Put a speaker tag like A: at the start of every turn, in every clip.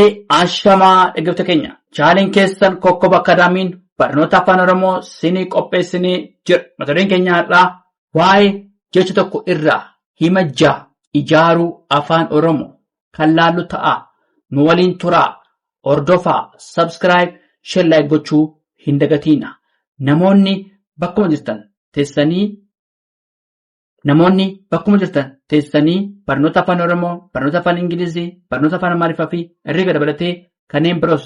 A: Ashamaa dhaggeeffattoota keenya chaaleen keessan kokkoba akkaadaamiin barnoota afaan oromoo sinii qopheessinee jira mata dureen keenya har'aa waa'ee jecha tokko irraa hima ja'a ijaaruu afaan oromoo kan laallu ta'a nu waliin turaa hordofaa sabskiraayib shellaayik gochuu hin dagatiina namoonni bakkuma jirtan teessanii Namoonni bakkuma jirtan teessanii barnoota afaan Oromoo, barnoota afaan Ingilizii, barnoota afaan Amaariffaa fi herreega dabalatee kanneen biroos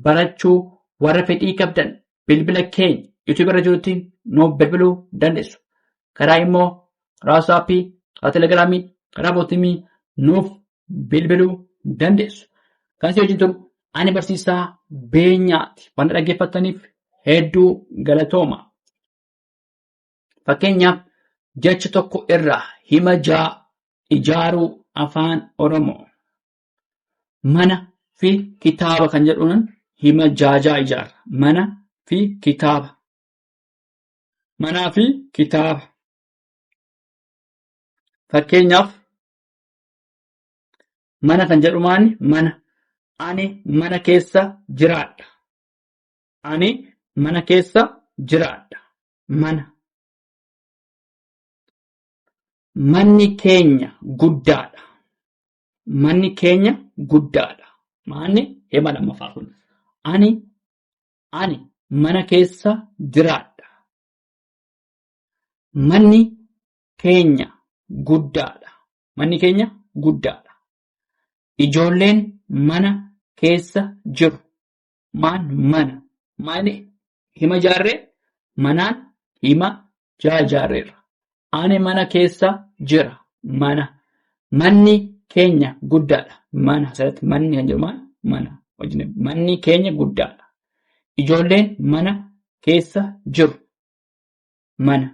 A: barachuu warra fedhii qabdan bilbila keenya YouTube irra jirutti nu bilbiluu dandeessu. Karaa immoo karaa WhatsApp, karaa Telegram, karaa Bootimii nuuf bilbiluu dandeessu. Kan si wajjin turu ani barsiisaa beenyaati. Wanta dhaggeeffattaniif hedduu galatooma. Fakkeenyaaf jecha tokko irraa hima jaa ijaaruu afaan Oromoo mana fi kitaaba kan jedhuun hima jaajaa ijaarra. Mana fi kitaaba. Manaa fi kitaaba. Fakkeenyaaf mana kan jedhu maani mana. Ani mana keessa jiraadha. Ani mana keessa jiraadha. mana manni keenya guddaadha manni keenya guddaadha maanni hima lammaffaa kun ani ani mana keessa jiraadha manni keenya guddaadha manni keenya guddaadha ijoolleen mana keessa jiru maan mana maani hima jaarree manaan hima jaa jaarreerra ani mana keessa jira mana manni keenya guddaadha mana asirratti manni kan jedhu maal mana wajjin manni keenya guddaadha ijoolleen mana keessa jiru mana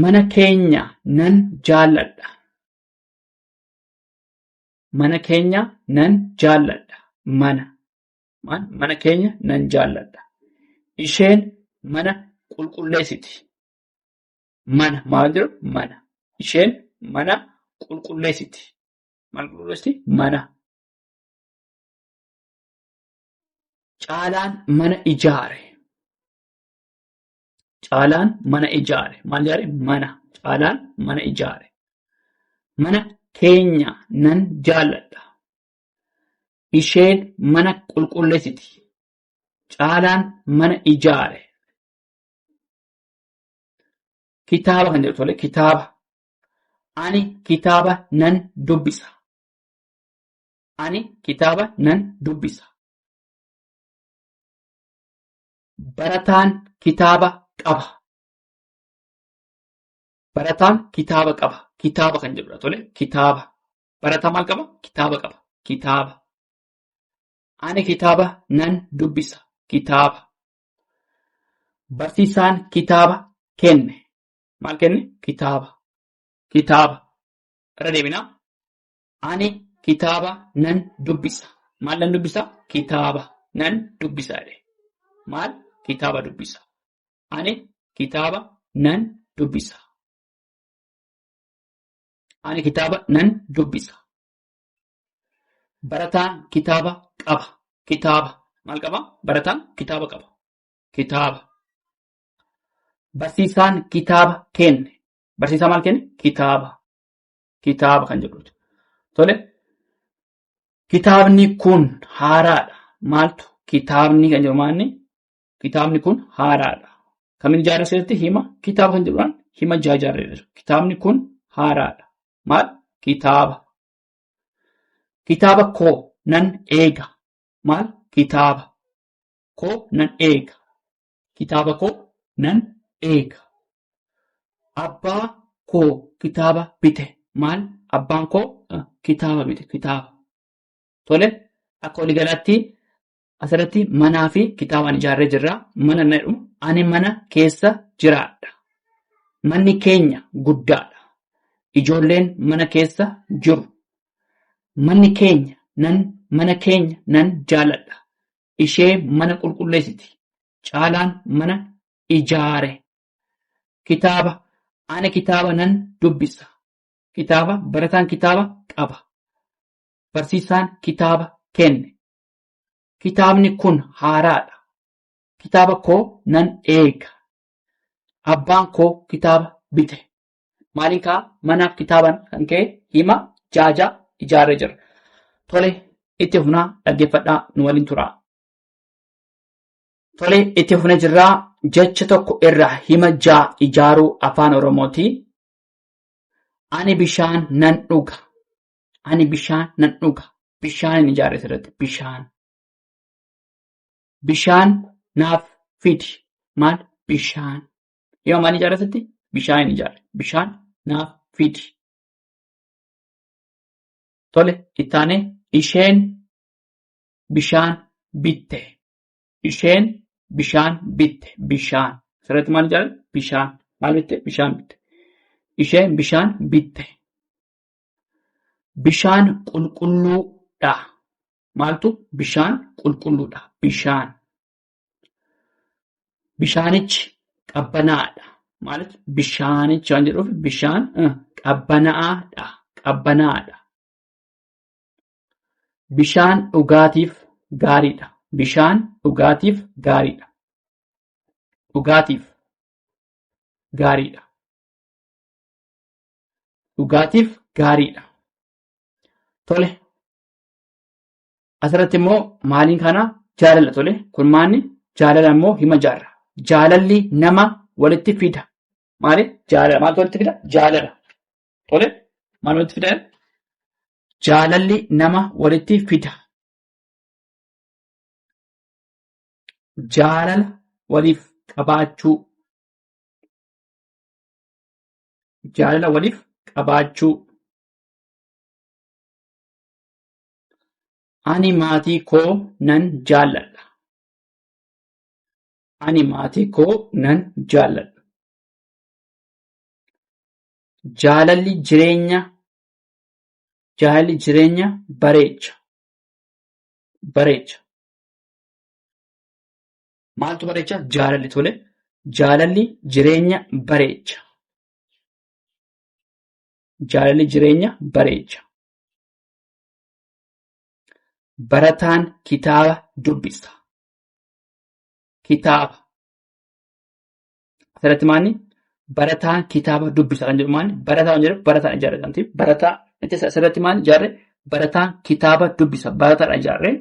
A: mana keenya nan jaalladha Mana keenya nan jaalladha. Mana. Maan mana keenya nan jaalladha. Isheen mana qulqulleessiti. Mana maal jedhu mana. Isheen mana qulqulleessiti. Maal qulqulleessiti? Mana. Caalaan mana ijaare. Caalaan mana ijaare. Maal ijaare? Mana. Caalaan mana ijaare. Mana keenya nan jaalladha. Isheen mana qulqulleessiti. Caalaan mana ijaare. Kitaaba kan jedhu tole kitaaba. Ani kitaaba nan dubbisa. Ani kitaaba nan dubbisa. Barataan kitaaba qaba. Barataan kitaaba qaba. Kitaaba kan jedhudha tole. Kitaaba. Barataa maal qaba? Kitaaba qaba. Kitaaba. Ani kitaaba nan dubbisa. Kitaaba. Barsiisaan kitaaba kenne. Maal kenne? Kitaaba. Kitaaba. Irra deebinaa. Ani kitaaba nan dubbisa. Maal nan dubbisa? Kitaaba nan dubbisa jedhe. Maal? Kitaaba dubbisa. Ani kitaaba nan dubbisa. Ani kitaaba nan dubbisa. Barataan kitaaba qaba. Kitaaba. Maal qaba? Barataan kitaaba qaba. Kitaaba. Barsiisaan kitaaba kenne. Barsiisaa maal kenne? Kitaaba. kitaaba kan jedhuudha. Tole kitaabni kun haaraadha. Maaltu kitaabni kan jedhu maalni kitaabni kun haaraadha. Kamin ijaarre keessatti hima kitaaba kan jedhuudhaan hima ijaa ijaarree jira. Kitaabni kun haaraadha. Maal kitaaba. Kitaaba koo nan eega. Maal kitaaba. Koo nan eega. kitaaba koo nan eega. Abbaa koo kitaaba bite maal abbaan koo kitaaba bite kitaaba. Tole akka waliigalaatti asirratti manaa fi kitaabaan ijaarree jirra. Mana na jedhu ani mana keessa jiraadha. Manni keenya guddaadha. Ijoolleen mana keessa jiru. Manni keenya nan mana keenya nan jaaladha. ishee mana qulqulleessiti caalaan mana ijaare kitaaba ana kitaaba nan dubbisa kitaaba barataan kitaaba qaba barsiisaan kitaaba kenne kitaabni kun haaraadha kitaaba koo nan eega abbaan koo kitaaba bite Maaliin kaa manaaf kitaaban kan ka'e hima jaaja ijaarree jira. Tole itti fufnaa dhaggeeffadhaa nu waliin turaa. Tole itti fufne jirraa jecha tokko irraa hima jaa ijaaruu afaan oromooti. Ani bishaan nan dhuga. Ani bishaan nan dhuga. Bishaan hin ijaarre asirratti bishaan. Bishaan naaf fidi. Maal bishaan. Yoo maal ijaarratutti bishaan hin ijaarre. Bishaan naaf fidi. Tole itti aanee isheen bishaan bitte. Isheen bishaan bitte. Bishaan. Asirratti maal ijaarre? Bishaan. Maal bitte? Bishaan bitte. Isheen bishaan bitte. Bishaan qulqulluudha. Maaltu bishaan qulqulluudha. Bishaan. Bishaanichi qabbanaa'aadha. Maaliif bishaanichi waan jedhuuf bishaan qabbanaa'aadha. Qabbanaa'aadha. Bishaan dhugaatiif gaariidha. Bishaan dhugaatiif gaariidha. Dhugaatiif gaariidha. Dhugaatiif gaariidha. Tole. Asirratti immoo maaliin kana jaalala tole kurmaanni jaalala immoo hima jaarra. Jaalalli nama walitti fida. Maali? Jaalala. Maaltu walitti fida? Jaalala. Tole maal walitti fida? Jaalalli nama walitti fida. Jaalala waliif qabaachuu. Jaalala waliif qabaachuu. Ani maatii koo nan jaalladha. Ani maatii koo nan jaalladha. Jaalalli jireenya jaalalli jireenya bareecha. Bareecha. Maaltu bareecha? Jaalalli tole. Jaalalli jireenya bareecha. Jaalalli jireenya bareecha. Barataan kitaaba dubbisa. Kitaaba. Asirratti maanni barataan kitaaba dubbisa kan jedhu maanni barataa kan jedhu barataan ijaarre kan ta'e barataa jecha asirratti maanni ijaarre barataan kitaaba dubbisa barataadha ijaarre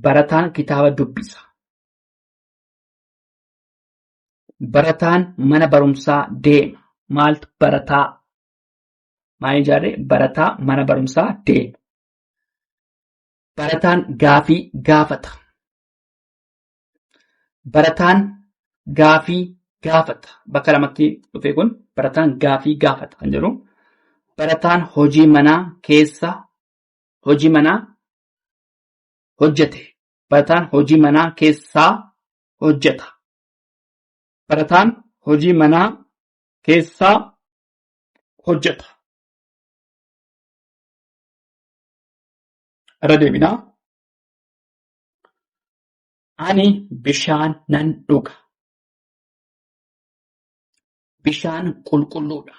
A: barataan kitaaba dubbisa. Barataan mana barumsaa deema. Maaltu barataa maal ijaarre barataa mana barumsaa deema. Barataan gaafii gaafata. Barataan gaafii gaafata. Bakka lamatti dhufe kun barataan gaafii gaafata kan jedhu. Barataan hojii manaa keessa hojii manaa hojjete. Barataan hojii manaa keessaa hojjeta. Barataan hojii manaa keessaa hojjeta. Irra deebinaa. Ani bishaan nan dhuga. Bishaan qulqulluudha.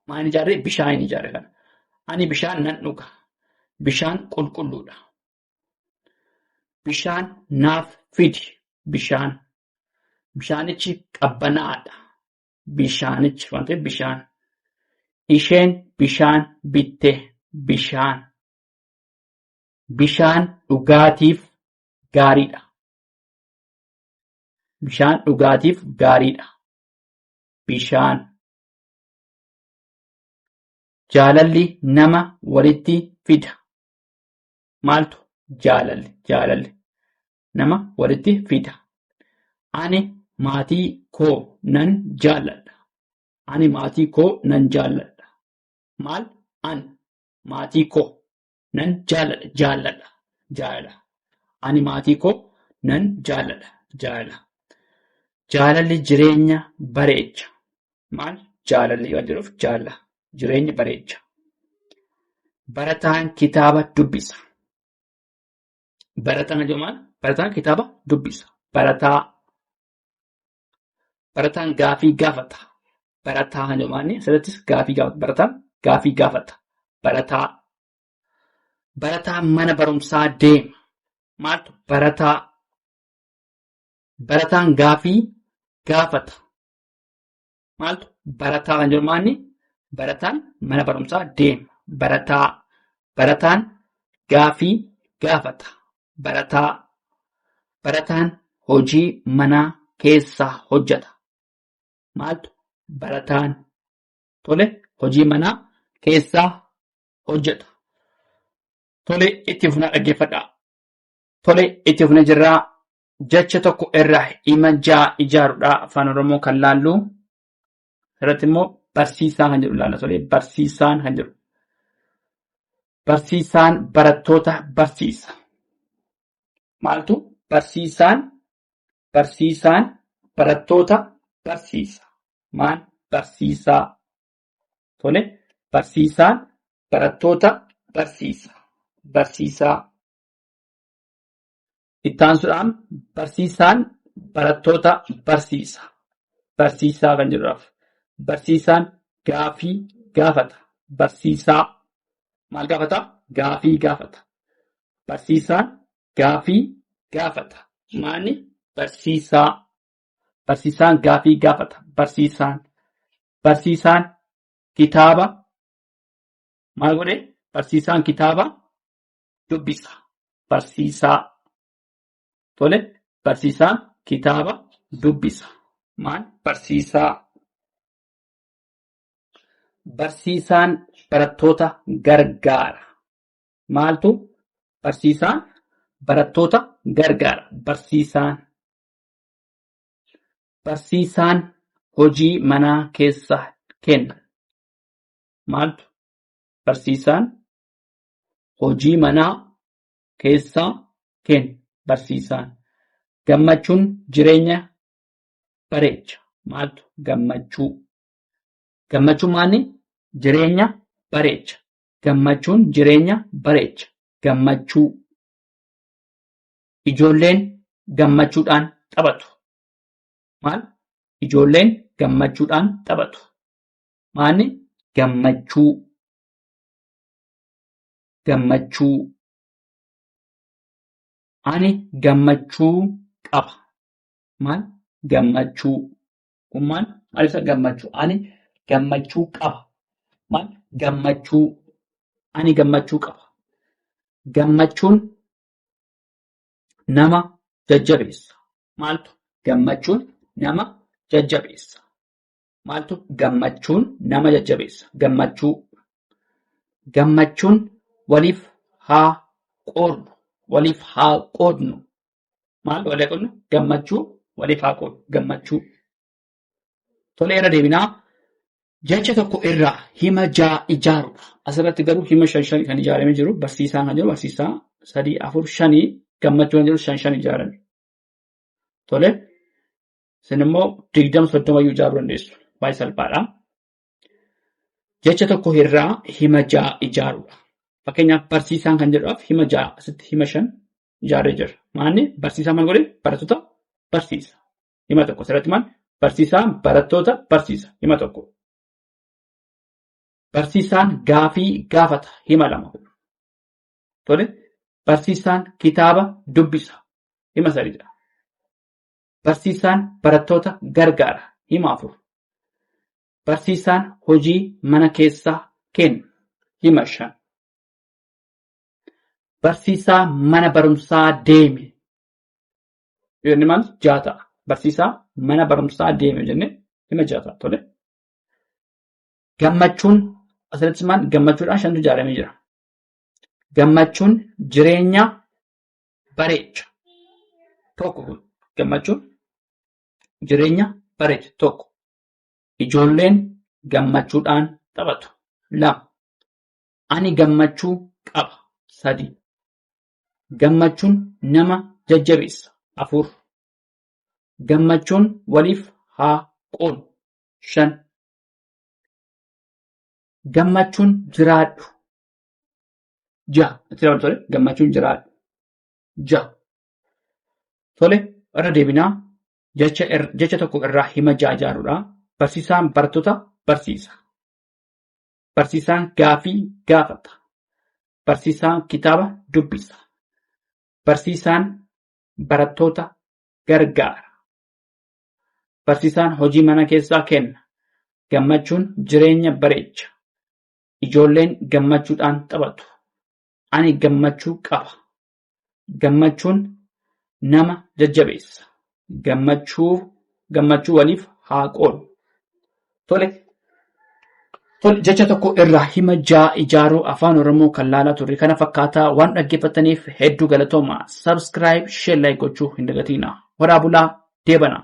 A: Maal ijaarree? Bishaan hin ijaarre kana. Ani bishaan nan dhuga. Bishaan qulqulluudha. Bishaan naaf fidi. Bishaan. Bishaanichi qabbanaa'aadha. bishaanichi waan ta'eef bishaan. Isheen bishaan bitte bishaan. Bishaan dhugaatiif gaariidha. Bishaan dhugaatiif gaariidha. Bishaan. Jaalalli nama walitti fida. Maaltu jaalalli jaalalli nama walitti fida. Ani maatii koo nan jaalladha. Ani maatii koo nan jaalladha. Maal? An maatii koo nan jaalladha. Jaalladha. Jaalala. Ani maatii koo nan jaalladha. Jaalala. Jaalalli jireenya bareecha. Maal? Jaalalli waan jedhuuf jaalala. Jireenya bareecha. Barataan kitaaba dubbisa. Barataan yoo maal? Barataan kitaaba dubbisa. Barataa. Barataan gaafii gaafata. Barataa yoo maal? Asirrattis gaafii gaafata. Barataan gaafii gaafata. Barataa. Barataa mana barumsaa deema. Maaltu? Barataa. Barataan gaafii gaafata. maaltu barataa kan jirmaanni barataan mana barumsaa deema. Barataa barataan gaafii gaafata. Barataa barataan hojii manaa keessaa hojjeta. Maaltu barataan tole hojii manaa keessaa hojjeta. Tole itti fufnaa dhaggeeffadhaa. Tole itti fufnee jirraa jecha tokko irra hima ja'a ijaarudha afaan oromoo kan laallu irratti immoo barsiisaa kan jedhu ilaalla tole barsiisaan kan jedhu barsiisaan barattoota barsiisa maaltu barsiisaan barsiisaan barattoota barsiisa maan barsiisaa tole barsiisaan barattoota barsiisa barsiisaa Itti aansuudhaan barsiisaan barattoota barsiisa. Barsiisaa kan jedhuudhaaf. Barsiisaan gaafii gaafata. Barsiisaa maal gaafata? Gaafii gaafata. Barsiisaan gaafii gaafata. Maani barsiisaa. Barsiisaan gaafii gaafata. Barsiisaan. Barsiisaan kitaaba maal godhe? Barsiisaan kitaaba dubbisa. Barsiisaa. Tole, barsiisaa kitaaba dubbisa. Maal? Barsiisaa. Barsiisaan barattoota gargaara. Maaltu? Barsiisaan barattoota gargaara. Barsiisaan. Barsiisaan hojii manaa keessa kenna. Maaltu? Barsiisaan hojii manaa keessaa kenna barsiisaan. Gammachuun jireenya bareecha. Maaltu gammachuu? Gammachuun maali? Jireenya bareecha. Gammachuun jireenya bareecha. Gammachuu. Ijoolleen gammachuudhaan taphatu. Maal? Ijoolleen gammachuudhaan taphatu. Maali? Gammachuu. gammachuu ani gammachuu qaba maal gammachuu kun maal maal ibsa gammachuu ani gammachuu qaba maal gammachuu ani gammachuu qaba gammachuun nama jajjabeessa maaltu gammachuun nama jajjabeessa Maaltu gammachuun nama jajjabeessa? Gammachuu. Gammachuun waliif haa qoodnu. Waliif haa qoodnu. Maal walii qoodnu? Gammachuu waliif haa qoodnu. Gammachuu. Tolee irra deebinaa. Jecha tokko irraa hima ja'a ijaaruudha. Asirratti garuu hima shan shan kan ijaaramee jiru barsiisaan kan jiru barsiisaa sadii afur shanii gammachuu kan jiru shan shan ijaarame. Tole Isin immoo digdama soddoma iyyuu ijaaruu dandeessu. Baay'ee salphaadha. Jecha tokko irraa hima ja'a ijaaruudha. Fakkeenyaaf barsiisaan kan jedhuuf hima ja'a asitti hima shan ijaarree jirra. Maanni barsiisaa maal godhe barattoota barsiisa. Hima tokko asirratti maal barsiisaan barattoota barsiisa. Hima tokko. Barsiisaan gaafii gaafata. Hima lama. Tole barsiisaan kitaaba dubbisa. Hima sadiidha. Barsiisaan barattoota gargaara. Hima afur. Barsiisaan hojii mana keessaa kenna. Hima shan. Barsiisaa mana barumsaa deeme. Yoo inni maal ja'a ta'a. Barsiisaa mana barumsaa deeme jennee hima ja'a ta'a. Tole. Gammachuun asirratti maal gammachuudhaan shantu ijaaramee jira. Gammachuun jireenya bareecha tokko kun gammachuun jireenya bareecha tokko ijoolleen gammachuudhaan taphatu lama ani gammachuu qaba sadii gammachuun nama jajjabeessa afur gammachuun waliif haa qoonu shan gammachuun jiraadhu Ja'a. Itti dabalu tole. Gammachuun jiraadhu. Ja'a. Tole irra deebinaa jecha ir- jecha tokko irraa hima ja'a ijaarudha. Barsiisaan barattoota barsiisa. Barsiisaan gaafii gaafata. Barsiisaan kitaaba dubbisa. Barsiisaan barattoota gargaara. Barsiisaan hojii mana keessaa kenna. Gammachuun jireenya bareecha. Ijoolleen gammachuudhaan taphatu. Ani gammachuu qaba. Gammachuun nama jajjabeessa. Gammachuu gammachuu waliif haa qoodnu. Tole. Tole jecha tokko irraa hima ja'a ijaaruu afaan Oromoo kan laalaa turre kana fakkaataa waan dhaggeeffattaniif hedduu galatooma. Subscribe, share, like gochuu hin dagatinaa. Horaa bulaa deebanaa.